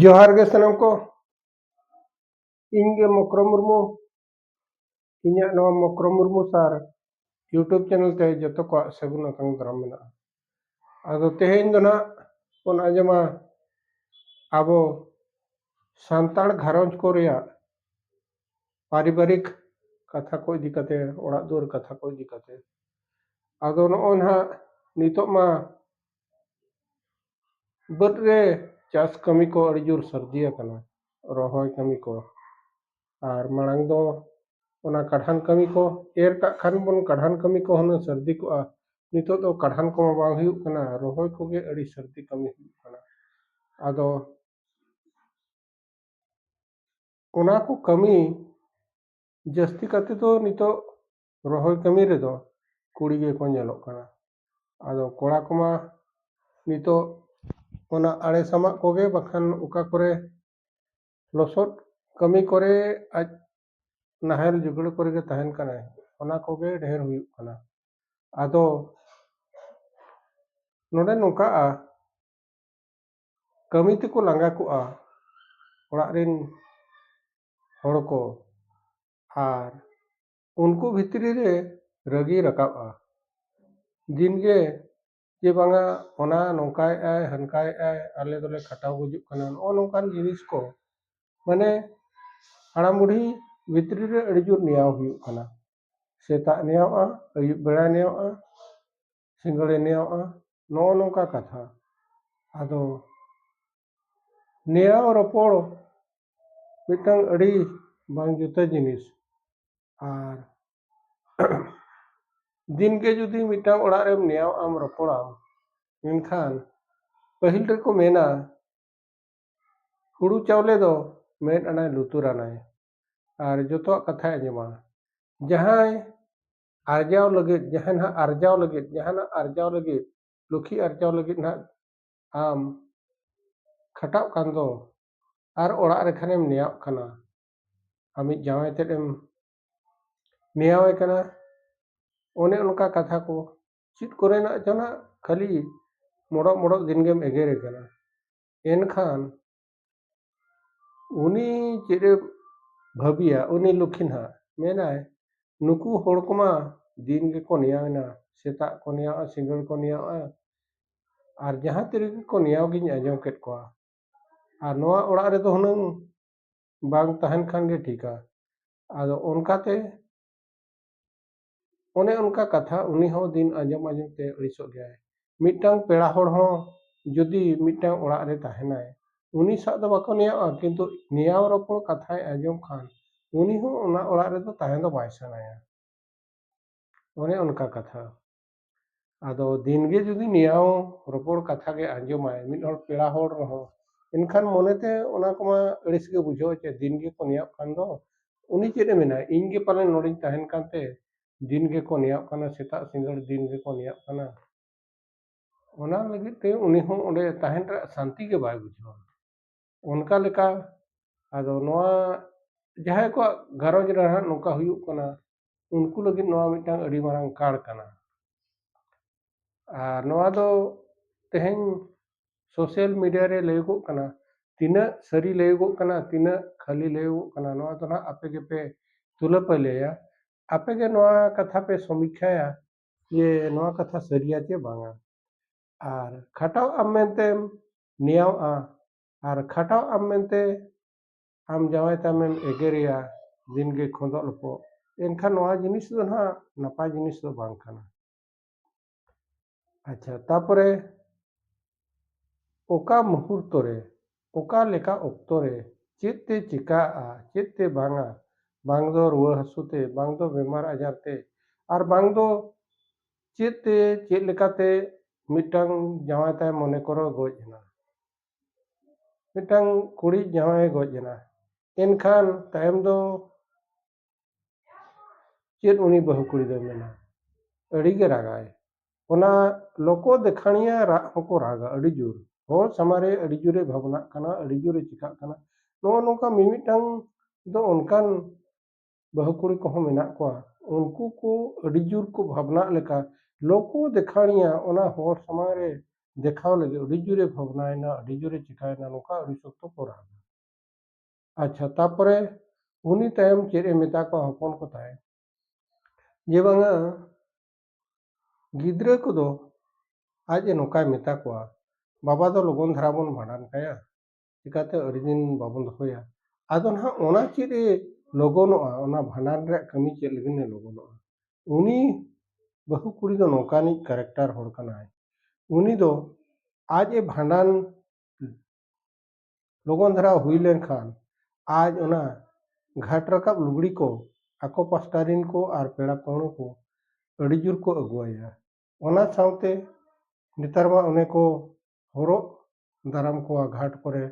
ᱡᱚᱦᱟᱨ ᱜᱮ ᱥᱟᱱᱟᱢ ᱠᱚ ᱤᱧ ᱜᱮ ᱢᱚᱠᱨᱚ ᱢᱩᱨᱢᱩ ᱤᱧᱟᱹᱜ ᱱᱚᱣᱟ ᱢᱚᱠᱨᱚ ᱢᱩᱨᱢᱩ ᱥᱟᱨ ᱤᱭᱩᱴᱩᱵᱽ ᱪᱮᱱᱮᱞ ᱛᱮ ᱡᱚᱛᱚ ᱠᱚᱣᱟᱜ ᱥᱟᱹᱜᱩᱱ ᱟᱛᱟᱝ ᱫᱟᱨᱟᱢ ᱢᱮᱱᱟᱜᱼᱟ ᱟᱫᱚ ᱛᱮᱦᱮᱧ ᱫᱚ ᱱᱟᱜ ᱵᱚᱱ ᱟᱸᱡᱚᱢᱟ ᱟᱵᱚ ᱥᱟᱱᱛᱟᱲ ᱜᱷᱟᱨᱚᱸᱡᱽ ᱠᱚ ᱨᱮᱭᱟᱜ ᱯᱟᱨᱤᱵᱟᱨᱤᱠ ᱠᱟᱛᱷᱟ ᱠᱚ ᱤᱫᱤ ᱠᱟᱛᱮ ᱚᱲᱟᱜ ᱫᱩᱣᱟᱹᱨ ᱠᱟᱛᱷᱟ ᱠᱚ ᱤᱫᱤ ᱠᱟᱛᱮ ᱟᱫᱚ ᱱᱚᱜᱼᱚᱭ ᱱᱟᱦᱟᱜ ᱱᱤᱛᱚᱜ ᱢᱟ ᱵᱟᱹᱫᱽ ᱨᱮ ᱪᱟᱥ ᱠᱟᱹᱢᱤ ᱠᱚ ᱟᱹᱰᱤ ᱡᱳᱨ ᱥᱟᱹᱨᱫᱤ ᱟᱠᱟᱱᱟ ᱨᱚᱦᱚᱭ ᱠᱟᱹᱢᱤ ᱠᱚ ᱟᱨ ᱢᱟᱲᱟᱝ ᱫᱚ ᱚᱱᱟ ᱠᱟᱰᱷᱟᱱ ᱠᱟᱹᱢᱤ ᱠᱚ ᱮᱨ ᱠᱟᱜ ᱠᱷᱟᱱ ᱵᱚᱱ ᱠᱟᱰᱷᱟᱱ ᱠᱟᱹᱢᱤ ᱠᱚ ᱦᱩᱱᱟᱹᱝ ᱥᱟᱹᱨᱫᱤ ᱠᱚᱜᱼᱟ ᱱᱤᱛᱚᱜ ᱫᱚ ᱠᱟᱰᱷᱟᱱ ᱠᱚᱢᱟ ᱵᱟᱝ ᱦᱩᱭᱩᱜ ᱠᱟᱱᱟ ᱨᱚᱦᱚᱭ ᱠᱚᱜᱮ ᱟᱹᱰᱤ ᱥᱟᱹᱨᱫᱤ ᱠᱟᱹᱢᱤ ᱦᱩᱭᱩᱜ ᱠᱟᱱᱟ ᱟᱫᱚ ᱚᱱᱟ ᱠᱚ ᱠᱟᱹᱢᱤ ᱡᱟᱹᱥᱛᱤ ᱠᱟᱛᱮ ᱫᱚ ᱱᱤᱛᱚᱜ ᱨᱚᱦᱚᱭ ᱠᱟᱹᱢᱤ ᱨᱮᱫᱚ ᱠᱩᱲᱤ ᱜᱮᱠᱚ ᱧᱮᱞᱚᱜ ᱠᱟᱱᱟ ᱟᱫᱚ ᱠᱚᱲᱟ ᱠᱚᱢᱟ ᱱᱤᱛᱚᱜ ᱚᱱᱟ ᱟᱲᱮ ᱥᱟᱢᱟᱜ ᱠᱚᱜᱮ ᱵᱟᱠᱷᱟᱱ ᱚᱠᱟ ᱠᱚᱨᱮ ᱞᱚᱥᱚᱫ ᱠᱟᱹᱢᱤ ᱠᱚᱨᱮ ᱟᱡ ᱱᱟᱦᱮᱞ ᱡᱩᱜᱽᱲᱟᱹ ᱠᱚᱨᱮ ᱜᱮ ᱛᱟᱦᱮᱱ ᱠᱟᱱᱟᱭ ᱚᱱᱟ ᱠᱚᱜᱮ ᱰᱷᱮᱨ ᱦᱩᱭᱩᱜ ᱠᱟᱱᱟ ᱟᱫᱚ ᱱᱚᱰᱮ ᱱᱚᱝᱠᱟᱜᱼᱟ ᱠᱟᱹᱢᱤ ᱛᱮᱠᱚ ᱞᱟᱸᱜᱟ ᱠᱚᱜᱼᱟ ᱚᱲᱟᱜ ᱨᱮᱱ ᱦᱚᱲ ᱠᱚ ᱟᱨ ᱩᱱᱠᱩ ᱵᱷᱤᱛᱨᱤ ᱨᱮ ᱨᱟᱹᱜᱤ ᱨᱟᱠᱟᱵᱼᱟ ᱫᱤᱱ ᱜᱮ ᱡᱮ ᱵᱟᱝᱟ ᱚᱱᱟ ᱱᱚᱝᱠᱟᱭᱮᱫ ᱟᱭ ᱦᱟᱱᱠᱟᱭᱮᱫ ᱟᱭ ᱟᱞᱮ ᱫᱚᱞᱮ ᱠᱷᱟᱴᱟᱣ ᱜᱩᱡᱩᱜ ᱠᱟᱱᱟ ᱱᱚᱜᱼᱚ ᱱᱚᱝᱠᱟᱱ ᱡᱤᱱᱤᱥ ᱠᱚ ᱢᱟᱱᱮ ᱦᱟᱲᱟᱢ ᱵᱩᱰᱦᱤ ᱵᱷᱤᱛᱨᱤ ᱨᱮ ᱟᱹᱰᱤ ᱡᱳᱨ ᱱᱮᱭᱟᱣ ᱦᱩᱭᱩᱜ ᱠᱟᱱᱟ ᱥᱮᱛᱟᱜ ᱱᱮᱭᱟᱣᱚᱜᱼᱟ ᱟᱹᱭᱩᱵ ᱵᱮᱲᱟ ᱱᱮᱭᱟᱣᱚᱜᱼᱟ ᱥᱤᱸᱜᱟᱹᱲ ᱱᱮᱭᱟᱣᱚᱜᱼᱟ ᱱᱚᱜᱼᱚ ᱱᱚᱝᱠᱟ ᱠᱟᱛᱷᱟ ᱟᱫᱚ ᱱᱮᱭᱟᱣ ᱨᱚᱯᱚᱲ ᱢᱤᱫᱴᱟᱝ ᱟᱹᱰᱤ ᱵᱟᱝ ᱡᱩᱛᱟᱹ ᱡᱤᱱᱤᱥ ᱟᱨ ᱫᱤᱱᱜᱮ ᱡᱩᱫᱤ ᱢᱤᱫᱴᱟᱝ ᱚᱲᱟᱜ ᱨᱮᱢ ᱱᱮᱭᱟᱣ ᱟᱢ ᱨᱚᱯᱚᱲᱟᱢ ᱢᱮᱱᱠᱷᱟᱱ ᱯᱟᱹᱦᱤᱞ ᱨᱮᱠᱚ ᱢᱮᱱᱟ ᱦᱩᱲᱩ ᱪᱟᱣᱞᱮ ᱫᱚ ᱢᱮᱫ ᱟᱱᱟᱭ ᱞᱩᱛᱩᱨ ᱟᱱᱟᱭ ᱟᱨ ᱡᱚᱛᱚᱣᱟᱜ ᱠᱟᱛᱷᱟᱭ ᱟᱸᱡᱚᱢᱟ ᱡᱟᱦᱟᱸᱭ ᱟᱨᱡᱟᱣ ᱞᱟᱹᱜᱤᱫ ᱡᱟᱦᱟᱸ ᱱᱟᱦᱟᱜ ᱟᱨᱡᱟᱣ ᱞᱟᱹᱜᱤᱫ ᱡᱟᱦᱟᱱᱟᱜ ᱟᱨᱡᱟᱣ ᱞᱟᱹᱜᱤᱫ ᱞᱩᱠᱷᱤ ᱟᱨᱡᱟᱣ ᱞᱟᱹᱜᱤᱫ ᱱᱟᱦᱟᱜ ᱟᱢ ᱠᱷᱟᱴᱟᱜ ᱠᱟᱱ ᱫᱚ ᱟᱨ ᱚᱲᱟᱜ ᱨᱮ ᱠᱷᱟᱱᱮᱢ ᱱᱮᱭᱟᱣᱜ ᱠᱟᱱᱟ ᱟᱢᱤᱡ ᱡᱟᱶᱟᱭ ᱛᱮᱫ ᱮᱢ ᱱᱮᱭᱟᱣᱮ ᱠᱟᱱᱟ ᱚᱱᱮ ᱚᱱᱠᱟ ᱠᱟᱛᱷᱟ ᱠᱚ ᱪᱮᱫ ᱠᱚᱨᱮᱱᱟᱜ ᱪᱚ ᱱᱟᱜ ᱠᱷᱟᱹᱞᱤ ᱢᱚᱲᱚᱜ ᱢᱚᱲᱚᱜ ᱫᱤᱱ ᱜᱮᱢ ᱮᱜᱮᱨᱮ ᱠᱟᱱᱟ ᱮᱱᱠᱷᱟᱱ ᱩᱱᱤ ᱪᱮᱫ ᱮ ᱵᱷᱟᱹᱵᱤᱭᱟ ᱩᱱᱤ ᱞᱚᱠᱠᱷᱤ ᱦᱟᱸᱜ ᱢᱮᱱᱟᱭ ᱱᱩᱠᱩ ᱦᱚᱲ ᱠᱚᱢᱟ ᱫᱤᱱ ᱜᱮᱠᱚ ᱱᱮᱭᱟᱣ ᱮᱱᱟ ᱥᱮᱛᱟᱜ ᱠᱚ ᱱᱮᱭᱟᱣᱜᱼᱟ ᱥᱤᱸᱜᱟᱹᱲ ᱠᱚ ᱱᱮᱭᱟᱣᱜᱼᱟ ᱟᱨ ᱡᱟᱦᱟᱸ ᱛᱤ ᱨᱮᱜᱮ ᱠᱚ ᱱᱮᱭᱟᱣ ᱜᱤᱧ ᱟᱸᱡᱚᱢ ᱠᱮᱫ ᱠᱚᱣᱟ ᱟᱨ ᱱᱚᱣᱟ ᱚᱲᱟᱜ ᱨᱮᱫᱚ ᱦᱩᱱᱟᱹᱝ ᱵᱟᱝ ᱛᱟᱦᱮᱱ ᱠᱷᱟᱱ ᱜᱮ ᱴᱷᱤᱠᱟ ᱟᱫᱚ ᱚᱱᱠᱟᱛᱮ ᱚᱱᱮ ᱚᱱᱠᱟ ᱠᱟᱛᱷᱟ ᱩᱱᱤ ᱦᱚᱸ ᱫᱤᱱ ᱟᱸᱡᱚᱢ ᱟᱸᱡᱚᱢ ᱛᱮ ᱟᱹᱲᱤᱥᱚᱜ ᱜᱮᱭᱟᱭ ᱢᱤᱫᱴᱟᱝ ᱯᱮᱲᱟ ᱦᱚᱲ ᱦᱚᱸ ᱡᱩᱫᱤ ᱢᱤᱫᱴᱟᱝ ᱚᱲᱟᱜ ᱨᱮ ᱛᱟᱦᱮᱱᱟᱭ ᱩᱱᱤ ᱥᱟᱜ ᱫᱚ ᱵᱟᱠᱚ ᱱᱮᱭᱟᱣᱜᱼᱟ ᱠᱤᱱᱛᱩ ᱱᱮᱭᱟᱣ ᱨᱚᱯᱚᱲ ᱠᱟᱛᱷᱟᱭ ᱟᱸᱡᱚᱢ ᱠᱷᱟᱱ ᱩᱱᱤ ᱦᱚᱸ ᱚᱱᱟ ᱚᱲᱟᱜ ᱨᱮᱫᱚ ᱛᱟᱦᱮᱸ ᱫᱚ ᱵᱟᱭ ᱥᱟᱱᱟᱭᱟ ᱚᱱᱮ ᱚᱱᱠᱟ ᱠᱟᱛᱷᱟ ᱟᱫᱚ ᱫᱤᱱᱜᱮ ᱡᱩᱫᱤ ᱱᱮᱭᱟᱣ ᱨᱚᱯᱚᱲ ᱠᱟᱛᱷᱟ ᱜᱮ ᱟᱸᱡᱚᱢᱟᱭ ᱢᱤᱫ ᱦᱚᱲ ᱯᱮᱲᱟ ᱦᱚᱲ ᱨᱮᱦᱚᱸ ᱮᱱᱠᱷᱟᱱ ᱢᱚᱱᱮᱛᱮ ᱚᱱᱟ ᱠᱚᱢᱟ ᱟᱹᱲᱤᱥ ᱜᱮ ᱵᱩᱡᱷᱟᱹᱣᱟ ᱪᱮ ᱫᱤᱱ ᱜᱮᱠᱚ ᱱᱮᱭᱟᱣᱚᱜ ᱠᱟᱱ ᱫᱚ ᱩᱱᱤ ᱪᱮᱫ ᱮ ᱢᱮᱱᱟ ᱤᱧ ᱜᱮ ᱯᱟᱞᱮᱱ ᱱᱚᱰᱮᱧ ᱛᱟᱦᱮᱱ ᱠᱟᱱᱛᱮ ᱫᱤᱱ ᱜᱮᱠᱚ ᱱᱮᱭᱟᱣᱚᱜ ᱠᱟᱱᱟ ᱥᱮᱛᱟᱜ ᱥᱤᱸᱜᱟᱹᱲ ᱫᱤᱱ ᱜᱮᱠᱚ ᱱᱮᱭᱟᱣᱚᱜ ᱠᱟᱱᱟ ᱚᱱᱟ ᱞᱟᱹᱜᱤᱫ ᱛᱮ ᱩᱱᱤ ᱦᱚᱸ ᱚᱸᱰᱮ ᱛᱟᱦᱮᱱ ᱨᱮᱭᱟᱜ ᱥᱟᱱᱛᱤ ᱜᱮ ᱵᱟᱭ ᱵᱩᱡᱷᱟᱹᱣᱟ ᱚᱱᱠᱟ ᱞᱮᱠᱟ ᱟᱫᱚ ᱱᱚᱣᱟ ᱡᱟᱦᱟᱸᱭ ᱠᱚᱣᱟᱜ ᱜᱷᱟᱨᱚᱸᱡᱽ ᱨᱮ ᱦᱟᱸᱜ ᱱᱚᱝᱠᱟ ᱦᱩᱭᱩᱜ ᱠᱟᱱᱟ ᱩᱱᱠᱩ ᱞᱟᱹᱜᱤᱫ ᱱᱚᱣᱟ ᱢᱤᱫᱴᱟᱝ ᱟᱹᱰᱤ ᱢᱟᱨᱟᱝ ᱠᱟᱬ ᱠᱟᱱᱟ ᱟᱨ ᱱᱚᱣᱟ ᱫᱚ ᱛᱮᱦᱮᱧ ᱥᱳᱥᱟᱞ ᱢᱤᱰᱤᱭᱟ ᱨᱮ ᱞᱟᱹᱭᱚᱜᱚᱜ ᱠᱟᱱᱟ ᱛᱤᱱᱟᱹᱜ ᱥᱟᱹᱨᱤ ᱞᱟᱹᱭᱚᱜᱚᱜ ᱠᱟᱱᱟ ᱛᱤᱱᱟᱹᱜ ᱠᱷᱟᱹᱞᱤ ᱞᱟᱹᱭᱚᱜᱚᱜ ᱠᱟᱱᱟ ᱱᱚᱣᱟ ᱫᱚ ᱱᱟᱦᱟᱜ ᱟᱯᱮ ᱜᱮᱯᱮ ᱛᱩᱞᱟᱹ ᱯᱟᱹᱭᱞᱟᱹᱭᱟ ᱟᱯᱮ ᱜᱮ ᱱᱚᱣᱟ ᱠᱟᱛᱷᱟ ᱯᱮ ᱥᱚᱢᱤᱠᱠᱷᱟᱭᱟ ᱡᱮ ᱱᱚᱣᱟ ᱠᱟᱛᱷᱟ ᱥᱟᱹᱨᱤᱭᱟ ᱪᱮ ᱵᱟᱝᱟ ᱟᱨ ᱠᱷᱟᱴᱟᱣ ᱟᱢ ᱢᱮᱱᱛᱮᱢ ᱱᱮᱭᱟᱣᱜᱼᱟ ᱟᱨ ᱠᱷᱟᱴᱟᱣ ᱟᱢ ᱢᱮᱱᱛᱮ ᱟᱢ ᱡᱟᱶᱟᱭ ᱛᱟᱢᱮᱢ ᱮᱜᱮᱨᱮᱭᱟ ᱫᱤᱱ ᱜᱮ ᱠᱷᱚᱸᱫᱚᱜ ᱞᱚᱯᱚᱜ ᱮᱱᱠᱷᱟᱱ ᱱᱚᱣᱟ ᱡᱤᱱᱤᱥ ᱫᱚ ᱱᱟᱦᱟᱜ ᱱᱟᱯᱟᱭ ᱡᱤᱱᱤᱥ ᱫᱚ ᱵᱟᱝ ᱠᱟᱱᱟ ᱟᱪᱪᱷᱟ ᱛᱟᱯᱚᱨᱮ ᱚᱠᱟ ᱢᱩᱦᱩᱨᱛᱚ ᱨᱮ ᱚᱠᱟ ᱞᱮᱠᱟ ᱚᱠᱛᱚ ᱨᱮ ᱪᱮᱫ ᱛᱮ ᱪᱤᱠᱟᱜᱼᱟ ᱪᱮᱫ ᱛᱮ ᱵᱟᱝᱟ ᱵᱟᱝ ᱫᱚ ᱨᱩᱣᱟᱹ ᱦᱟᱹᱥᱩ ᱛᱮ ᱵᱟᱝ ᱫᱚ ᱵᱮᱢᱟᱨ ᱟᱡᱟᱨ ᱛᱮ ᱟᱨ ᱵᱟᱝ ᱫᱚ ᱪᱮᱫ ᱛᱮ ᱪᱮᱫ ᱞᱮᱠᱟᱛᱮ ᱢᱤᱫᱴᱟᱝ ᱡᱟᱶᱟᱭ ᱛᱟᱭ ᱢᱚᱱᱮ ᱠᱚᱨᱚ ᱜᱚᱡ ᱮᱱᱟ ᱢᱤᱫᱴᱟᱝ ᱠᱩᱲᱤ ᱡᱟᱶᱟᱭ ᱜᱚᱡ ᱮᱱᱟ ᱮᱱᱠᱷᱟᱱ ᱛᱟᱭᱚᱢ ᱫᱚ ᱪᱮᱫ ᱩᱱᱤ ᱵᱟᱹᱦᱩ ᱠᱩᱲᱤ ᱫᱚᱭ ᱢᱮᱱᱟ ᱟᱹᱰᱤᱜᱮ ᱨᱟᱜᱟᱭ ᱚᱱᱟ ᱞᱚᱠᱚ ᱫᱮᱠᱷᱟᱬᱤᱭᱟᱹ ᱨᱟᱜ ᱦᱚᱸᱠᱚ ᱨᱟᱜᱟ ᱟᱹᱰᱤ ᱡᱳᱨ ᱦᱚᱲ ᱥᱟᱢᱟᱝ ᱨᱮ ᱟᱹᱰᱤ ᱡᱳᱨᱮ ᱵᱷᱟᱵᱽᱱᱟᱜ ᱠᱟᱱᱟ ᱟᱹᱰᱤ ᱡᱳᱨᱮ ᱪᱤᱠᱟᱹᱜ ᱠᱟᱱᱟ ᱱᱚᱜᱼᱚ ᱱᱚᱝᱠᱟ ᱢᱤᱢᱤᱫᱴᱟᱝ ᱫᱚ ᱚᱱᱠᱟᱱ ᱵᱟᱹᱦᱩ ᱠᱩᱲᱤ ᱠᱚᱦᱚᱸ ᱢᱮᱱᱟᱜ ᱠᱚᱣᱟ ᱩᱱᱠᱩ ᱠᱚ ᱟᱹᱰᱤ ᱡᱳᱨ ᱠᱚ ᱵᱷᱟᱵᱽᱱᱟᱜ ᱞᱮᱠᱟ ᱞᱚᱠᱚ ᱫᱮᱠᱷᱟᱬᱤᱭᱟ ᱚᱱᱟ ᱦᱚᱲ ᱥᱟᱢᱟᱝ ᱨᱮ ᱫᱮᱠᱷᱟᱣ ᱞᱟᱹᱜᱤᱫ ᱟᱹᱰᱤ ᱡᱳᱨᱮ ᱵᱷᱟᱵᱽᱱᱟᱭᱮᱱᱟ ᱟᱹᱰᱤ ᱡᱳᱨᱮ ᱪᱤᱠᱟᱹᱭᱮᱱᱟ ᱱᱚᱝᱠᱟ ᱟᱹᱰᱤ ᱥᱚᱠᱛᱚ ᱠᱚ ᱨᱟᱜᱟ ᱟᱪᱪᱷᱟ ᱛᱟᱨᱯᱚᱨᱮ ᱩᱱᱤ ᱛᱟᱭᱚᱢ ᱪᱮᱫ ᱮ ᱢᱮᱛᱟ ᱠᱚᱣᱟ ᱦᱚᱯᱚᱱ ᱠᱚ ᱛᱟᱭ ᱡᱮ ᱵᱟᱝᱟ ᱜᱤᱫᱽᱨᱟᱹ ᱠᱚᱫᱚ ᱟᱡ ᱮ ᱱᱚᱝᱠᱟᱭ ᱢᱮᱛᱟ ᱠᱚᱣᱟ ᱵᱟᱵᱟ ᱫᱚ ᱞᱚᱜᱚᱱ ᱫᱷᱟᱨᱟ ᱵᱚᱱ ᱵᱷᱟᱸᱰᱟᱱ ᱠᱟᱭᱟ ᱪᱤᱠᱟᱹᱛᱮ ᱟᱹᱰᱤ ᱫᱤᱱ ᱵᱟᱵᱚᱱ ᱫᱚᱦᱚᱭᱟ ᱟᱫᱚ ᱱᱟᱦᱟᱜ ᱚᱱᱟ ᱪᱮᱫ ᱮ ᱞᱚᱜᱚᱱᱚᱜᱼᱟ ᱚᱱᱟ ᱵᱷᱟᱸᱰᱟᱱ ᱨᱮᱭᱟᱜ ᱠᱟᱹᱢᱤ ᱪᱮᱫ ᱞᱟᱹᱜᱤᱫ ᱮ ᱞᱚᱜᱚᱱᱚᱜᱼᱟ ᱩᱱᱤ ᱵᱟᱹᱦᱩ ᱠᱩᱲᱤ ᱫᱚ ᱱᱚᱝᱠᱟᱱᱤᱡ ᱠᱮᱨᱮᱠᱴᱟᱨ ᱦᱚᱲ ᱠᱟᱱᱟᱭ ᱩᱱᱤ ᱫᱚ ᱟᱡ ᱮ ᱵᱷᱟᱸᱰᱟᱱ ᱞᱚᱜᱚᱱ ᱫᱷᱟᱨᱟ ᱦᱩᱭ ᱞᱮᱱᱠᱷᱟᱱ ᱟᱡ ᱚᱱᱟ ᱜᱷᱟᱴ ᱨᱟᱠᱟᱵ ᱞᱩᱜᱽᱲᱤ ᱠᱚ ᱟᱠᱚ ᱯᱟᱥᱴᱟ ᱨᱤᱱ ᱠᱚ ᱟᱨ ᱯᱮᱲᱟ ᱯᱟᱹᱦᱲᱟᱹ ᱠᱚ ᱟᱹᱰᱤ ᱡᱳᱨ ᱠᱚ ᱟᱹᱜᱩᱣᱟᱭᱟ ᱚᱱᱟ ᱥᱟᱶᱛᱮ ᱱᱮᱛᱟᱨ ᱢᱟ ᱚᱱᱮ ᱠᱚ ᱦᱚᱨᱚᱜ ᱫᱟᱨᱟᱢ ᱠᱚᱣᱟ ᱜᱷᱟᱴ ᱠᱚᱨᱮ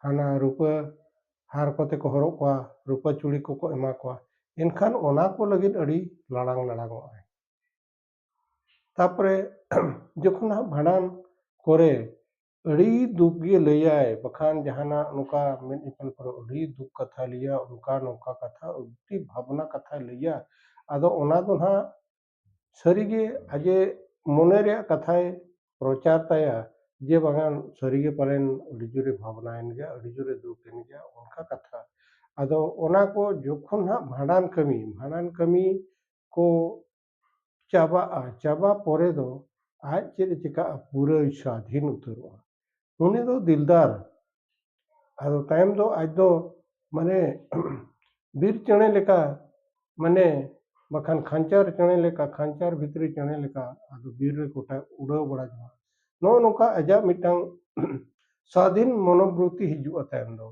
ᱦᱟᱱᱟ ᱨᱩᱯᱟᱹ ᱦᱟᱨ ᱠᱚᱛᱮ ᱠᱚ ᱦᱚᱨᱚᱜ ᱠᱚᱣᱟ ᱨᱩᱯᱟᱹ ᱪᱩᱲᱤ ᱠᱚᱠᱚ ᱮᱢᱟ ᱠᱚᱣᱟ ᱮᱱᱠᱷᱟᱱ ᱚᱱᱟ ᱠᱚ ᱞᱟᱹᱜᱤᱫ ᱟᱹᱰᱤ ᱞᱟᱲᱟᱝ ᱞᱟᱲᱟᱝᱚᱜ ᱟᱭ ᱛᱟᱨᱯᱚᱨᱮ ᱡᱚᱠᱷᱚᱱ ᱦᱟᱸᱜ ᱵᱷᱟᱸᱰᱟᱱ ᱠᱚᱨᱮ ᱟᱹᱰᱤ ᱫᱩᱠ ᱜᱮ ᱞᱟᱹᱭᱟᱭ ᱵᱟᱠᱷᱟᱱ ᱡᱟᱦᱟᱱᱟᱜ ᱱᱚᱝᱠᱟ ᱢᱮᱫ ᱧᱮᱯᱮᱞ ᱠᱚᱨᱮ ᱟᱹᱰᱤ ᱫᱩᱠ ᱠᱟᱛᱷᱟᱭ ᱞᱟᱹᱭᱟ ᱚᱱᱠᱟ ᱱᱚᱝᱠᱟ ᱠᱟᱛᱷᱟ ᱟᱹᱰᱤ ᱵᱷᱟᱵᱽᱱᱟ ᱠᱟᱛᱷᱟᱭ ᱞᱟᱹᱭᱟ ᱟᱫᱚ ᱚᱱᱟ ᱫᱚ ᱦᱟᱸᱜ ᱥᱟᱹᱨᱤᱜᱮ ᱟᱡᱮ ᱢᱚᱱᱮ ᱨᱮᱭᱟᱜ ᱠᱟᱛᱷᱟᱭ ᱯᱨᱚᱪᱟᱨ ᱛᱟᱭᱟ ᱡᱮ ᱵᱟᱝᱟ ᱥᱟᱹᱨᱤᱜᱮ ᱯᱟᱞᱮᱱ ᱟᱹᱰᱤ ᱡᱳᱨᱮ ᱵᱷᱟᱵᱽᱱᱟᱭᱮᱱ ᱜᱮᱭᱟ ᱟᱹᱰᱤ ᱡᱳᱨᱮ ᱫᱩᱠ ᱮᱱ ᱜᱮᱭᱟ ᱚᱱᱠᱟ ᱠᱟᱛᱷᱟ ᱟᱫᱚ ᱚᱱᱟ ᱠᱚ ᱡᱚᱠᱷᱚᱱ ᱦᱟᱸᱜ ᱵᱷᱟᱸᱰᱟᱱ ᱠᱟᱹᱢᱤ ᱵᱷᱟᱸᱰᱟᱱ ᱠᱟᱹᱢᱤ ᱠᱚ ᱪᱟᱵᱟᱜᱼᱟ ᱪᱟᱵᱟ ᱯᱚᱨᱮ ᱫᱚ ᱟᱡ ᱪᱮᱫ ᱮ ᱪᱤᱠᱟᱹᱜᱼᱟ ᱯᱩᱨᱟᱹᱭ ᱥᱟᱹᱫᱷᱤᱱ ᱩᱛᱟᱹᱨᱚᱜᱼᱟ ᱩᱱᱤ ᱫᱚ ᱫᱤᱞᱫᱟᱨ ᱟᱫᱚ ᱛᱟᱭᱚᱢ ᱫᱚ ᱟᱡ ᱫᱚ ᱢᱟᱱᱮ ᱵᱤᱨ ᱪᱮᱬᱮ ᱞᱮᱠᱟ ᱢᱟᱱᱮ ᱵᱟᱠᱷᱟᱱ ᱠᱷᱟᱧᱪᱟᱨ ᱪᱮᱬᱮ ᱞᱮᱠᱟ ᱠᱷᱟᱧᱪᱟᱨ ᱵᱷᱤᱛᱨᱤ ᱪᱮᱬᱮ ᱞᱮᱠᱟ ᱟᱫᱚ ᱵᱤᱨ ᱨᱮ ᱜᱚᱴᱟ ᱩᱰᱟᱹᱣ ᱵᱟᱲᱟ ᱡᱚᱝᱟ ᱱᱚᱜᱼᱚ ᱱᱚᱝᱠᱟ ᱟᱡᱟᱜ ᱢᱤᱫᱴᱟᱝ ᱥᱟᱫᱷᱤᱱ ᱢᱚᱱᱚᱵᱨᱚᱛᱛᱤ ᱦᱤᱡᱩᱜᱼᱟ ᱛᱟᱭᱚᱢ ᱫᱚ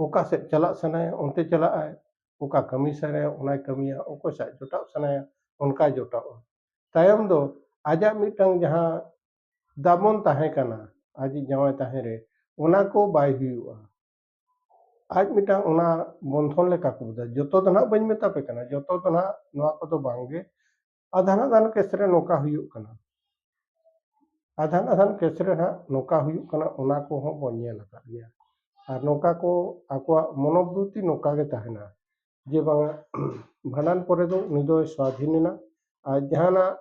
ᱚᱠᱟ ᱥᱮᱫ ᱪᱟᱞᱟᱜ ᱥᱟᱱᱟᱭᱮᱭᱟ ᱚᱱᱛᱮ ᱪᱟᱞᱟᱜᱼᱟᱭ ᱚᱠᱟ ᱠᱟᱹᱢᱤ ᱥᱟᱱᱟᱭᱮᱭᱟ ᱚᱱᱟᱭ ᱠᱟᱹᱢᱤᱭᱟ ᱚᱠᱚᱭ ᱥᱟᱜ ᱡᱚᱴᱟᱜ ᱥᱟᱱᱟᱭᱮᱭᱟ ᱚᱱᱠᱟᱭ ᱡᱚᱴᱟᱜᱼᱟ ᱛᱟᱭᱚᱢ ᱫᱚ ᱟᱡᱟᱜ ᱢᱤᱫᱴᱟᱝ ᱡᱟᱦᱟᱸ ᱫᱟᱢᱚᱱ ᱛᱟᱦᱮᱸ ᱠᱟᱱᱟ ᱟᱡᱤᱡ ᱡᱟᱶᱟᱭ ᱛᱟᱦᱮᱸ ᱨᱮ ᱚᱱᱟ ᱠᱚ ᱵᱟᱭ ᱦᱩᱭᱩᱜᱼᱟ ᱟᱡ ᱢᱤᱫᱴᱟᱝ ᱚᱱᱟ ᱵᱚᱱᱫᱷᱚᱱ ᱞᱮᱠᱟ ᱠᱚ ᱵᱩᱡᱟ ᱡᱚᱛᱚ ᱫᱚ ᱱᱟᱦᱟᱜ ᱵᱟᱹᱧ ᱢᱮᱛᱟ ᱯᱮ ᱠᱟᱱᱟ ᱡᱚᱛᱚ ᱫᱚ ᱱᱟᱦᱟᱜ ᱱᱚᱣᱟ ᱠᱚᱫᱚ ᱵᱟᱝᱜᱮ ᱟᱫᱷᱟᱱ ᱟᱫᱷᱟᱱ ᱠᱮᱥ ᱨᱮ ᱱᱚᱝᱠᱟ ᱦᱩᱭᱩᱜ ᱠᱟᱱᱟ ᱟᱫᱷᱟᱱ ᱟᱫᱷᱟᱱ ᱠᱮᱥ ᱨᱮ ᱦᱟᱸᱜ ᱱᱚᱝᱠᱟ ᱦᱩᱭᱩᱜ ᱠᱟᱱᱟ ᱚᱱᱟ ᱠᱚᱦᱚᱸ ᱵᱚᱱ ᱧᱮᱞ ᱟᱠᱟᱫ ᱜᱮᱭᱟ ᱟᱨ ᱱᱚᱝᱠᱟ ᱠᱚ ᱟᱠᱚᱣᱟᱜ ᱢᱚᱱᱚᱵᱨᱩᱛᱤ ᱱᱚᱝᱠᱟ ᱜᱮ ᱛᱟᱦᱮᱱᱟ ᱡᱮ ᱵᱟᱝᱟ ᱵᱷᱟᱸᱰᱟᱱ ᱯᱚᱨᱮ ᱫᱚ ᱩᱱᱤ ᱫᱚᱭ ᱥᱟᱹᱫᱷᱤᱱ ᱮᱱᱟ ᱟᱨ ᱡᱟᱦᱟᱱᱟᱜ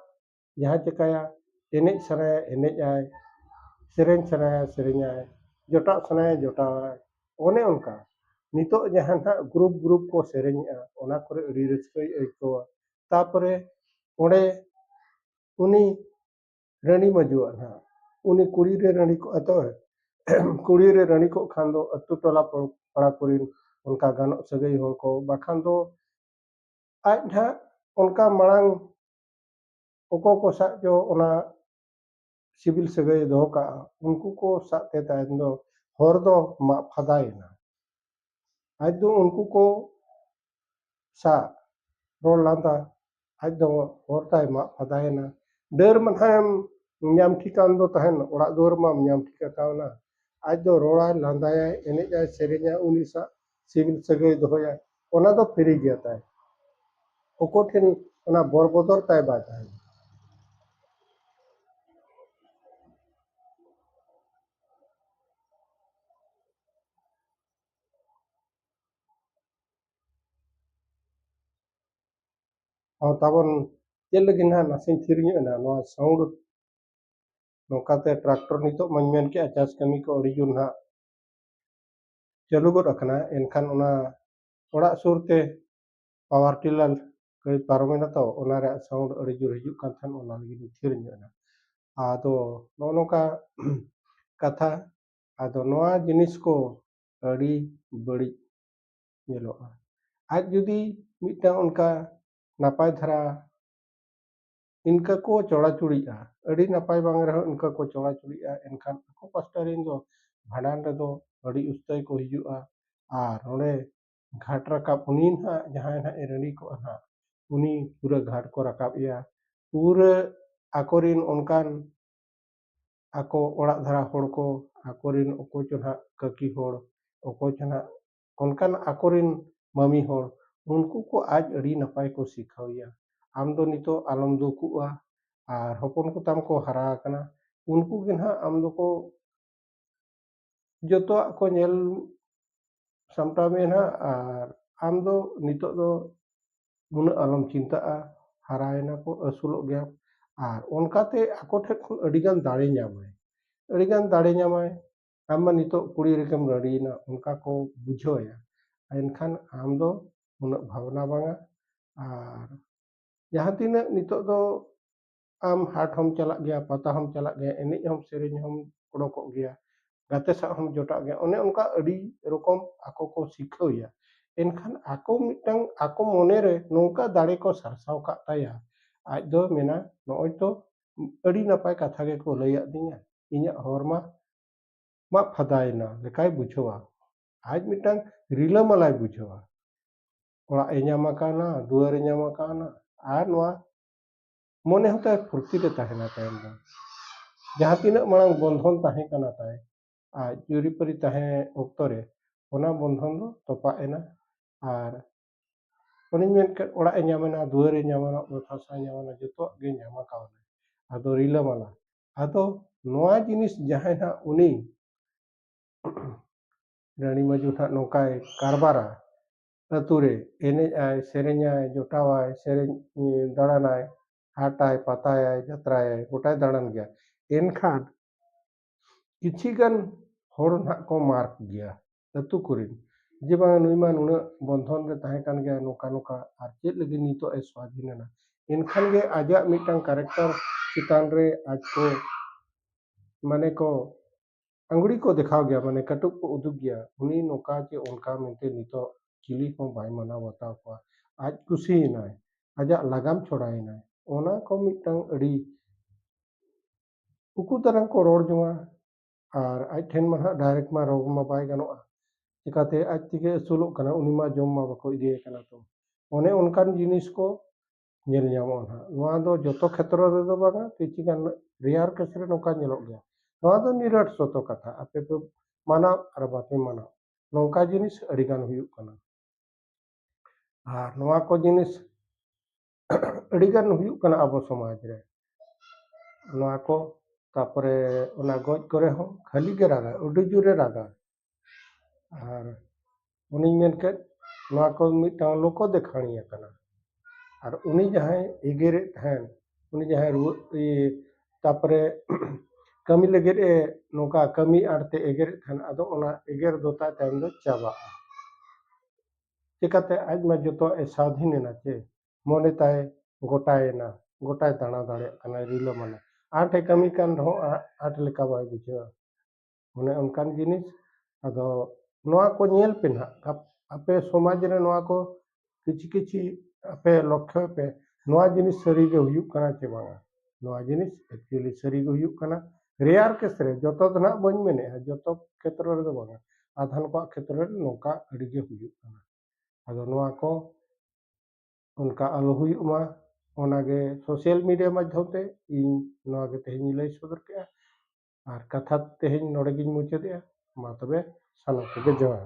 ᱡᱟᱦᱟᱸ ᱪᱤᱠᱟᱹᱭᱟ ᱮᱱᱮᱡ ᱥᱟᱱᱟᱭᱟ ᱮᱱᱮᱡ ᱟᱭ ᱥᱮᱨᱮᱧ ᱥᱟᱱᱟᱭᱟ ᱥᱮᱨᱮᱧ ᱟᱭ ᱡᱚᱴᱟᱜ ᱥᱟᱱᱟᱭᱟ ᱡᱚᱴᱟᱣ ᱟᱭ ᱚᱱᱮ ᱚᱱᱠᱟ ᱱᱤᱛᱚᱜ ᱡᱟᱦᱟᱸ ᱱᱟᱦᱟᱜ ᱜᱨᱩᱯ ᱜᱨᱩᱯ ᱠᱚ ᱥᱮᱨᱮᱧᱮᱜᱼᱟ ᱚᱱᱟ ᱠᱚᱨᱮ ᱟᱹᱰᱤ ᱨᱟᱹᱥᱠᱟᱹᱭ ᱟᱹᱭᱠᱟᱹᱣᱟ ᱛᱟᱯᱚᱨᱮ ᱚᱸᱰᱮ ᱩᱱᱤ ᱨᱟᱹᱱᱤ ᱢᱟᱹᱡᱩᱣᱟᱜ ᱱᱟᱦᱟᱜ ᱩᱱᱤ ᱠᱩᱲᱤ ᱨᱮ ᱨᱟᱹᱱᱤ ᱠᱚᱜᱼᱟ ᱛᱚ ᱠᱩᱲᱤ ᱨᱮ ᱨᱟᱹᱱᱤ ᱠᱚᱜ ᱠᱷᱟᱱ ᱫᱚ ᱟᱹᱛᱩ ᱴᱚᱞᱟ ᱯᱟᱲᱟ ᱠᱚᱨᱮᱱ ᱚᱱᱠᱟ ᱜᱟᱱᱚᱜ ᱥᱟᱹᱜᱟᱹᱭ ᱦᱚᱲ ᱠᱚ ᱵᱟᱠᱷᱟᱱ ᱫᱚ ᱟᱡ ᱱᱟᱦᱟᱜ ᱚᱱᱠᱟ ᱢᱟᱲᱟᱝ ᱚᱠᱚᱭ ᱠᱚ ᱥᱟᱜ ᱪᱚ ᱚᱱᱟ ᱥᱤᱵᱤᱞ ᱥᱟᱹᱜᱟᱹᱭ ᱫᱚᱦᱚ ᱠᱟᱜᱼᱟ ᱩᱱᱠᱩ ᱠᱚ ᱥᱟᱜ ᱛᱮ ᱛᱟᱭᱚᱢ ᱫᱚ ᱦᱚᱨ ᱫᱚ ᱢᱟᱜ ᱯᱷᱟᱫᱟᱭᱮᱱᱟ ᱟᱡ ᱫᱚ ᱩᱱᱠᱩ ᱠᱚ ᱥᱟᱜ ᱨᱚᱲ ᱞᱟᱸᱫᱟ ᱟᱡ ᱫᱚ ᱦᱚᱨ ᱛᱟᱭ ᱢᱟᱜ ᱯᱷᱟᱫᱟᱭᱮᱱᱟ ᱰᱟᱹᱨ ᱢᱟᱱᱦᱟᱭᱮᱢ ᱧᱟᱢ ᱴᱷᱤᱠᱟᱱ ᱫᱚ ᱛᱟᱦᱮᱱ ᱚᱲᱟᱜ ᱫᱩᱣᱟᱹᱨ ᱢᱟᱢ ᱧᱟᱢ ᱴᱷᱤᱠ ᱟᱠᱟᱣᱱᱟ ᱟᱡ ᱫᱚ ᱨᱚᱲᱟᱭ ᱞᱟᱸᱫᱟᱭᱟᱭ ᱮᱱᱮᱡᱟᱭ ᱥᱮᱨᱮᱧᱟᱭ ᱩᱱᱤ ᱥᱟᱜ ᱥᱤᱵᱤᱞ ᱥᱟᱹᱜᱟᱹᱭ ᱫᱚᱦᱚᱭᱟ ᱚᱱᱟ ᱫᱚ ᱯᱷᱤᱨᱤ ᱜᱮᱭᱟ ᱛᱟᱭ ᱚᱠᱚᱭ ᱴᱷᱮᱱ ᱚᱱᱟ ᱵᱚᱨ ᱵᱚᱫᱚᱨ ᱛᱟᱭ ᱵᱟᱭ ᱛᱟᱦᱮᱱᱟ ᱛᱟᱵᱚᱱ ᱪᱮᱫ ᱞᱟᱹᱜᱤᱫ ᱱᱟᱦᱟᱜ ᱱᱟᱥᱮᱧ ᱛᱷᱤᱨ ᱧᱚᱜ ᱮᱱᱟ ᱱᱚᱣᱟ ᱥᱟᱣᱩᱱᱰ ᱱᱚᱝᱠᱟᱛᱮ ᱴᱨᱟᱠᱴᱚᱨ ᱱᱤᱛᱚᱜ ᱢᱟᱧ ᱢᱮᱱ ᱠᱮᱜᱼᱟ ᱪᱟᱥ ᱠᱟᱹᱢᱤ ᱠᱚ ᱟᱹᱰᱤ ᱡᱳᱨ ᱱᱟᱦᱟᱜ ᱪᱟᱹᱞᱩ ᱜᱚᱫ ᱟᱠᱟᱱᱟ ᱮᱱᱠᱷᱟᱱ ᱚᱱᱟ ᱚᱲᱟᱜ ᱥᱩᱨ ᱛᱮ ᱯᱟᱣᱟᱨ ᱴᱤᱞᱟᱨ ᱜᱟᱹᱰᱤ ᱯᱟᱨᱚᱢᱮᱱᱟ ᱛᱚ ᱚᱱᱟ ᱨᱮᱭᱟᱜ ᱥᱟᱣᱩᱱᱰ ᱟᱹᱰᱤ ᱡᱳᱨ ᱦᱤᱡᱩᱜ ᱠᱟᱱ ᱛᱟᱦᱮᱸᱫ ᱚᱱᱟ ᱞᱟᱹᱜᱤᱫ ᱤᱧ ᱛᱷᱤᱨ ᱧᱚᱜ ᱮᱱᱟ ᱟᱫᱚ ᱱᱚᱜᱼᱚ ᱱᱚᱝᱠᱟ ᱠᱟᱛᱷᱟ ᱟᱫᱚ ᱱᱚᱣᱟ ᱡᱤᱱᱤᱥ ᱠᱚ ᱟᱹᱰᱤ ᱵᱟᱹᱲᱤᱡ ᱧᱮᱞᱚᱜᱼᱟ ᱟᱡ ᱡᱩᱫᱤ ᱢᱤᱫᱴᱟᱝ ᱚᱱᱠᱟ ᱱᱟᱯᱟᱭ ᱫᱷᱟᱨᱟ ᱤᱱᱠᱟᱹ ᱠᱚ ᱪᱚᱲᱟ ᱪᱩᱲᱤᱜᱼᱟ ᱟᱹᱰᱤ ᱱᱟᱯᱟᱭ ᱵᱟᱝ ᱨᱮᱦᱚᱸ ᱤᱱᱠᱟᱹ ᱠᱚ ᱪᱚᱲᱟ ᱪᱩᱲᱤᱜᱼᱟ ᱮᱱᱠᱷᱟᱱ ᱟᱠᱚ ᱯᱟᱥᱴᱟ ᱨᱮᱱ ᱫᱚ ᱵᱷᱟᱸᱰᱟᱱ ᱨᱮᱫᱚ ᱟᱹᱰᱤ ᱩᱥᱛᱟᱹᱭ ᱠᱚ ᱦᱤᱡᱩᱜᱼᱟ ᱟᱨ ᱱᱚᱰᱮ ᱜᱷᱟᱴ ᱨᱟᱠᱟᱵ ᱩᱱᱤ ᱱᱟᱦᱟᱜ ᱡᱟᱦᱟᱸᱭ ᱱᱟᱦᱟᱜ ᱮ ᱨᱮᱰᱤ ᱠᱚᱜᱼᱟ ᱱᱟᱦᱟᱜ ᱩᱱᱤ ᱯᱩᱨᱟᱹ ᱜᱷᱟᱴ ᱠᱚ ᱨᱟᱠᱟᱵ ᱮᱭᱟ ᱯᱩᱨᱟᱹ ᱟᱠᱚᱨᱮᱱ ᱚᱱᱠᱟᱱ ᱟᱠᱚ ᱚᱲᱟᱜ ᱫᱷᱟᱨᱟ ᱦᱚᱲ ᱠᱚ ᱟᱠᱚᱨᱮᱱ ᱚᱠᱚᱭ ᱪᱚ ᱱᱟᱦᱟᱜ ᱠᱟᱹᱠᱤ ᱦᱚᱲ ᱚᱠᱚᱭ ᱪᱚ ᱱᱟᱦᱟᱜ ᱚᱱᱠᱟᱱ ᱟᱠᱚᱨᱮᱱ ᱢᱟᱹᱢᱤ ᱦᱚᱲ ᱩᱱᱠᱩ ᱠᱚ ᱟᱡ ᱟᱹᱰᱤ ᱱᱟᱯᱟᱭ ᱠᱚ ᱥᱤᱠᱷᱟᱹᱣᱮᱭᱟ ᱟᱢ ᱫᱚ ᱱᱤᱛᱚᱜ ᱟᱞᱚᱢ ᱫᱩᱠᱩᱜᱼᱟ ᱟᱨ ᱦᱚᱯᱚᱱ ᱠᱚ ᱛᱟᱢ ᱠᱚ ᱦᱟᱨᱟ ᱟᱠᱟᱱᱟ ᱩᱱᱠᱩ ᱜᱮ ᱱᱟᱦᱟᱜ ᱟᱢ ᱫᱚᱠᱚ ᱡᱚᱛᱚᱣᱟᱜ ᱠᱚ ᱧᱮᱞ ᱥᱟᱢᱴᱟᱣ ᱢᱮᱭᱟ ᱱᱟᱦᱟᱜ ᱟᱨ ᱟᱢ ᱫᱚ ᱱᱤᱛᱚᱜ ᱫᱚ ᱩᱱᱟᱹᱜ ᱟᱞᱚᱢ ᱪᱤᱱᱛᱟᱹᱜᱼᱟ ᱦᱟᱨᱟᱭᱮᱱᱟ ᱠᱚ ᱟᱹᱥᱩᱞᱚᱜ ᱜᱮᱭᱟᱢ ᱟᱨ ᱚᱱᱠᱟᱛᱮ ᱟᱠᱚ ᱴᱷᱮᱱ ᱠᱷᱚᱱ ᱟᱹᱰᱤᱜᱟᱱ ᱫᱟᱲᱮ ᱧᱟᱢᱟᱭ ᱟᱹᱰᱤᱜᱟᱱ ᱫᱟᱲᱮ ᱧᱟᱢᱟᱭ ᱟᱢ ᱢᱟ ᱱᱤᱛᱚᱜ ᱠᱩᱲᱤ ᱞᱮᱠᱟᱢ ᱨᱟᱹᱲᱤᱭᱮᱱᱟ ᱚᱱᱠᱟ ᱠᱚ ᱵᱩᱡᱷᱟᱹᱣᱮᱭᱟ ᱮᱱᱠᱷᱟᱱ ᱟᱢ ᱫᱚ ᱩᱱᱟᱹᱜ ᱵᱷᱟᱵᱽᱱᱟ ᱵᱟᱝᱟ ᱟᱨ ᱡᱟᱦᱟᱸ ᱛᱤᱱᱟᱹᱜ ᱱᱤᱛᱚᱜ ᱫᱚ ᱟᱢ ᱦᱟᱴ ᱦᱚᱢ ᱪᱟᱞᱟᱜ ᱜᱮᱭᱟ ᱯᱟᱛᱟ ᱦᱚᱢ ᱪᱟᱞᱟᱜ ᱜᱮᱭᱟ ᱮᱱᱮᱡ ᱦᱚᱢ ᱥᱮᱨᱮᱧ ᱦᱚᱢ ᱚᱰᱚᱠᱚᱜ ᱜᱮᱭᱟ ᱜᱟᱛᱮ ᱥᱟᱶ ᱦᱚᱢ ᱡᱚᱴᱟᱜ ᱜᱮᱭᱟ ᱚᱱᱮ ᱚᱱᱠᱟ ᱟᱹᱰᱤ ᱨᱚᱠᱚᱢ ᱟᱠᱚ ᱠᱚ ᱥᱤᱠᱷᱟᱹᱣᱮᱭᱟ ᱮᱱᱠᱷᱟᱱ ᱟᱠᱚ ᱢᱤᱫᱴᱟᱝ ᱟᱠᱚ ᱢᱚᱱᱮᱨᱮ ᱱᱚᱝᱠᱟ ᱫᱟᱲᱮ ᱠᱚ ᱥᱟᱨᱥᱟᱣ ᱠᱟᱜ ᱛᱟᱭᱟ ᱟᱡ ᱫᱚ ᱢᱮᱱᱟ ᱱᱚᱜᱼᱚᱭ ᱛᱚ ᱟᱹᱰᱤ ᱱᱟᱯᱟᱭ ᱠᱟᱛᱷᱟ ᱜᱮᱠᱚ ᱞᱟᱹᱭᱟᱫᱤᱧᱟ ᱤᱧᱟᱹᱜ ᱦᱚᱨ ᱢᱟ ᱢᱟᱜ ᱯᱷᱟᱫᱟᱭᱮᱱᱟ ᱞᱮᱠᱟᱭ ᱵᱩᱡᱷᱟᱹᱣᱟ ᱟᱡ ᱢᱤᱫᱴᱟᱝ ᱨᱤᱞᱟᱹᱢᱟᱞᱟᱭ ᱵᱩᱡᱷᱟᱹᱣᱟ ᱚᱲᱟᱜ ᱮ ᱧᱟᱢ ᱟᱠᱟᱱᱟ ᱫᱩᱣᱟᱹᱨ ᱮ ᱧᱟᱢ ᱟᱠᱟᱱᱟ ᱟᱨ ᱱᱚᱣᱟ ᱢᱚᱱᱮ ᱦᱚᱸ ᱛᱟᱭ ᱯᱷᱩᱨᱛᱤ ᱨᱮ ᱛᱟᱦᱮᱱᱟ ᱛᱟᱭᱚᱢ ᱫᱚ ᱡᱟᱦᱟᱸ ᱛᱤᱱᱟᱹᱜ ᱢᱟᱲᱟᱝ ᱵᱚᱱᱫᱷᱚᱱ ᱛᱟᱦᱮᱸ ᱠᱟᱱᱟ ᱛᱟᱭ ᱟᱡ ᱡᱩᱨᱤᱯᱟᱹᱨᱤ ᱛᱟᱦᱮᱸ ᱚᱠᱛᱚ ᱨᱮ ᱚᱱᱟ ᱵᱚᱱᱫᱷᱚᱱ ᱫᱚ ᱛᱚᱯᱟᱜ ᱮᱱᱟ ᱟᱨ ᱩᱱᱤ ᱢᱮᱱ ᱠᱮᱫ ᱚᱲᱟᱜ ᱮ ᱧᱟᱢᱮᱱᱟ ᱫᱩᱣᱟᱹᱨ ᱮ ᱧᱟᱢᱮᱱᱟ ᱚᱛ ᱦᱟᱥᱟᱭ ᱧᱟᱢᱮᱱᱟ ᱡᱚᱛᱚᱣᱟᱜ ᱜᱮ ᱧᱟᱢ ᱟᱠᱟᱣᱱᱟ ᱟᱫᱚ ᱨᱤᱞᱟᱹᱢᱟᱞᱟ ᱟᱫᱚ ᱱᱚᱣᱟ ᱡᱤᱱᱤᱥ ᱡᱟᱦᱟᱸᱭ ᱦᱟᱸᱜ ᱩᱱᱤ ᱨᱟᱹᱱᱤ ᱢᱟᱹᱡᱩ ᱦᱟᱸᱜ ᱱᱚᱝᱠᱟᱭ ᱠᱟᱨᱵᱟᱨᱟ ᱟᱹᱛᱩ ᱨᱮ ᱮᱱᱮᱡ ᱟᱭ ᱥᱮᱨᱮᱧᱟᱭ ᱡᱚᱴᱟᱣᱟᱭ ᱥᱮᱨᱮᱧ ᱫᱟᱬᱟᱱᱟᱭ ᱦᱟᱴᱟᱭ ᱯᱟᱛᱟᱭᱟᱭ ᱡᱟᱛᱨᱟᱭᱟᱭ ᱜᱚᱴᱟᱭ ᱫᱟᱬᱟᱱ ᱜᱮᱭᱟ ᱮᱱᱠᱷᱟᱱ ᱠᱤᱪᱷᱤ ᱜᱟᱱ ᱦᱚᱲ ᱱᱟᱦᱟᱜ ᱠᱚ ᱢᱟᱨᱠ ᱜᱮᱭᱟ ᱟᱹᱛᱩ ᱠᱚᱨᱮᱱ ᱡᱮ ᱵᱟᱝ ᱱᱩᱭ ᱢᱟ ᱱᱩᱱᱟᱹᱜ ᱵᱚᱱᱫᱷᱚᱱ ᱨᱮ ᱛᱟᱦᱮᱸ ᱠᱟᱱ ᱜᱮᱭᱟᱭ ᱱᱚᱝᱠᱟ ᱱᱚᱝᱠᱟ ᱟᱨ ᱪᱮᱫ ᱞᱟᱹᱜᱤᱫ ᱱᱤᱛᱚᱜ ᱮ ᱥᱟᱹᱫᱷᱤᱱ ᱮᱱᱟ ᱮᱱᱠᱷᱟᱱ ᱜᱮ ᱟᱡᱟᱜ ᱢᱤᱫᱴᱟᱝ ᱠᱮᱨᱮᱠᱴᱟᱨ ᱪᱮᱛᱟᱱ ᱨᱮ ᱟᱡ ᱠᱚ ᱢᱟᱱᱮ ᱠᱚ ᱟᱝᱜᱽᱲᱤ ᱠᱚ ᱫᱮᱠᱷᱟᱣ ᱜᱮᱭᱟ ᱢᱟᱱᱮ ᱠᱟᱹᱴᱩᱵ ᱠᱚ ᱩᱫᱩᱜ ᱜᱮᱭᱟ ᱩᱱᱤ ᱱᱚᱝᱠᱟ ᱪᱮ ᱚᱱᱠᱟ ᱢᱮᱱᱛᱮ ᱱᱤᱛᱚᱜ ᱪᱤᱞᱤ ᱦᱚᱸ ᱵᱟᱭ ᱢᱟᱱᱟᱣ ᱵᱟᱛᱟᱣ ᱠᱚᱣᱟ ᱟᱡ ᱠᱩᱥᱤᱭᱮᱱᱟᱭ ᱟᱡᱟᱜ ᱞᱟᱜᱟᱢ ᱪᱷᱚᱲᱟᱭᱮᱱᱟᱭ ᱚᱱᱟ ᱠᱚ ᱢᱤᱫᱴᱟᱝ ᱟᱹᱰᱤ ᱩᱠᱩ ᱫᱟᱨᱟᱝ ᱠᱚ ᱨᱚᱲ ᱡᱚᱝᱟ ᱟᱨ ᱟᱡ ᱴᱷᱮᱱ ᱢᱟ ᱱᱟᱦᱟᱜ ᱰᱟᱭᱨᱮᱠᱴ ᱢᱟ ᱨᱳᱜᱽ ᱢᱟ ᱵᱟᱭ ᱜᱟᱱᱚᱜᱼᱟ ᱪᱤᱠᱟᱹᱛᱮ ᱟᱡ ᱛᱮᱜᱮ ᱟᱹᱥᱩᱞᱚᱜ ᱠᱟᱱᱟ ᱩᱱᱤ ᱢᱟ ᱡᱚᱢ ᱢᱟ ᱵᱟᱠᱚ ᱤᱫᱤᱭᱟᱭ ᱠᱟᱱᱟ ᱛᱚ ᱚᱱᱮ ᱚᱱᱠᱟᱱ ᱡᱤᱱᱤᱥ ᱠᱚ ᱧᱮᱞ ᱧᱟᱢᱚᱜᱼᱟ ᱱᱟᱦᱟᱜ ᱱᱚᱣᱟ ᱫᱚ ᱡᱚᱛᱚ ᱠᱷᱮᱛᱨᱚ ᱨᱮᱫᱚ ᱵᱟᱝᱟ ᱠᱤᱪᱷᱩ ᱜᱟᱱ ᱨᱮᱭᱟᱨ ᱠᱮᱥ ᱨᱮ ᱱᱚᱝᱠᱟ ᱧᱮᱞᱚᱜ ᱜᱮᱭᱟ ᱱᱚᱣᱟ ᱫᱚ ᱱᱤᱨᱟᱴ ᱥᱚᱛᱚ ᱠᱟᱛᱷᱟ ᱟᱯᱮ ᱯᱮ ᱢᱟᱱᱟᱣ ᱟᱨ ᱵᱟᱯᱮ ᱢᱟᱱᱟᱣ ᱱᱚᱝᱠᱟ ᱡᱤᱱᱤᱥ ᱟᱹᱰᱤᱜᱟᱱ ᱦᱩᱭᱩᱜ ᱠᱟᱱᱟ ᱟᱨ ᱱᱚᱣᱟ ᱠᱚ ᱡᱤᱱᱤᱥ ᱟᱹᱰᱤ ᱜᱟᱱ ᱦᱩᱭᱩᱜ ᱠᱟᱱᱟ ᱟᱵᱚ ᱥᱚᱢᱟᱡᱽ ᱨᱮ ᱱᱚᱣᱟ ᱠᱚ ᱛᱟᱨᱯᱚᱨᱮ ᱚᱱᱟ ᱜᱚᱡ ᱠᱚᱨᱮ ᱦᱚᱸ ᱠᱷᱟᱹᱞᱤ ᱜᱮ ᱨᱟᱜᱟᱭ ᱟᱹᱰᱤ ᱡᱳᱨᱮ ᱨᱟᱜᱟ ᱟᱨ ᱩᱱᱤᱧ ᱢᱮᱱ ᱠᱮᱫ ᱱᱚᱣᱟ ᱠᱚ ᱢᱤᱫᱴᱟᱝ ᱞᱳᱠᱚ ᱫᱮᱠᱷᱟᱱᱤᱭᱟᱹ ᱠᱟᱱᱟᱭ ᱟᱨ ᱩᱱᱤ ᱡᱟᱦᱟᱸᱭ ᱮᱜᱮᱨᱮᱫ ᱛᱟᱦᱮᱱ ᱩᱱᱤ ᱡᱟᱦᱟᱸᱭ ᱨᱩᱣᱟᱹᱜ ᱤᱭᱟᱹ ᱛᱟᱨᱯᱚᱨᱮ ᱠᱟᱹᱢᱤ ᱞᱟᱹᱜᱤᱫ ᱮ ᱱᱚᱝᱠᱟ ᱠᱟᱹᱢᱤ ᱟᱲᱛᱮ ᱮᱜᱮᱨᱮᱫ ᱛᱟᱦᱮᱱ ᱟᱫᱚ ᱚᱱᱟ ᱮᱜᱮᱨ ᱫᱚ ᱛᱟᱭ ᱛᱟᱭᱚᱢ ᱫᱚ ᱪᱟᱵᱟᱜᱼᱟ ᱪᱮᱠᱟᱛᱮ ᱟᱡ ᱢᱟ ᱡᱚᱛᱚᱣᱟᱜ ᱮ ᱥᱟᱹᱫᱷᱤᱱ ᱮᱱᱟ ᱪᱮ ᱢᱚᱱᱮ ᱛᱟᱭ ᱜᱚᱴᱟᱭᱮᱱᱟ ᱜᱚᱴᱟᱭ ᱫᱟᱬᱟ ᱫᱟᱲᱮᱭᱟᱜ ᱠᱟᱱᱟᱭ ᱨᱤᱞᱟᱹᱢᱟᱞᱟ ᱟᱸᱴ ᱮ ᱠᱟᱹᱢᱤ ᱠᱟᱱ ᱨᱮᱦᱚᱸ ᱟᱸᱴ ᱞᱮᱠᱟ ᱵᱟᱭ ᱵᱩᱡᱷᱟᱹᱣᱟ ᱚᱱᱮ ᱚᱱᱠᱟᱱ ᱡᱤᱱᱤᱥ ᱟᱫᱚ ᱱᱚᱣᱟ ᱠᱚ ᱧᱮᱞ ᱯᱮ ᱱᱟᱜ ᱟᱯᱮ ᱥᱚᱢᱟᱡᱽ ᱨᱮ ᱱᱚᱣᱟ ᱠᱚ ᱠᱤᱪᱷᱤ ᱠᱤᱪᱷᱤ ᱟᱯᱮ ᱞᱚᱠᱠᱷᱚᱭ ᱯᱮ ᱱᱚᱣᱟ ᱡᱤᱱᱤᱥ ᱥᱟᱹᱨᱤᱜᱮ ᱦᱩᱭᱩᱜ ᱠᱟᱱᱟ ᱪᱮ ᱵᱟᱝᱟ ᱱᱚᱣᱟ ᱡᱤᱱᱤᱥ ᱮᱠᱪᱩᱭᱮᱞᱤ ᱥᱟᱹᱨᱤ ᱜᱮ ᱦᱩᱭᱩᱜ ᱠᱟᱱᱟ ᱨᱮᱭᱟᱨ ᱠᱮᱥ ᱨᱮ ᱡᱚᱛᱚ ᱫᱚ ᱱᱟᱦᱟᱜ ᱵᱟᱹᱧ ᱢᱮᱱᱮᱫᱼᱟ ᱡᱚᱛᱚ ᱠᱷᱮᱛᱨᱚ ᱨᱮᱫᱚ ᱵᱟᱝᱟ ᱟᱫᱷᱟᱱ ᱠᱚᱣᱟᱜ ᱠᱷᱮᱛᱨᱚ ᱨᱮ ᱱᱚᱝᱠᱟ ᱟᱹᱰᱤ ᱜᱮ ᱦᱩᱭᱩᱜ ᱠᱟᱱᱟ ᱟᱫᱚ ᱱᱚᱣᱟ ᱠᱚ ᱚᱱᱠᱟ ᱟᱞᱚ ᱦᱩᱭᱩᱜ ᱢᱟ ᱚᱱᱟᱜᱮ ᱥᱳᱥᱟᱞ ᱢᱤᱰᱤᱭᱟ ᱢᱟᱫᱽᱫᱷᱚᱢ ᱛᱮ ᱤᱧ ᱱᱚᱣᱟ ᱜᱮ ᱛᱮᱦᱮᱧ ᱞᱟᱹᱭ ᱥᱚᱫᱚᱨ ᱠᱮᱫᱼᱟ ᱟᱨ ᱠᱟᱛᱷᱟ ᱛᱮᱦᱮᱧ ᱱᱚᱰᱮ ᱜᱤᱧ ᱢᱩᱪᱟᱹᱫᱮᱜᱼᱟ ᱢᱟ ᱛᱚᱵᱮ ᱥᱟᱱᱟᱢ ᱠᱚᱜᱮ ᱡᱚᱦᱟᱨ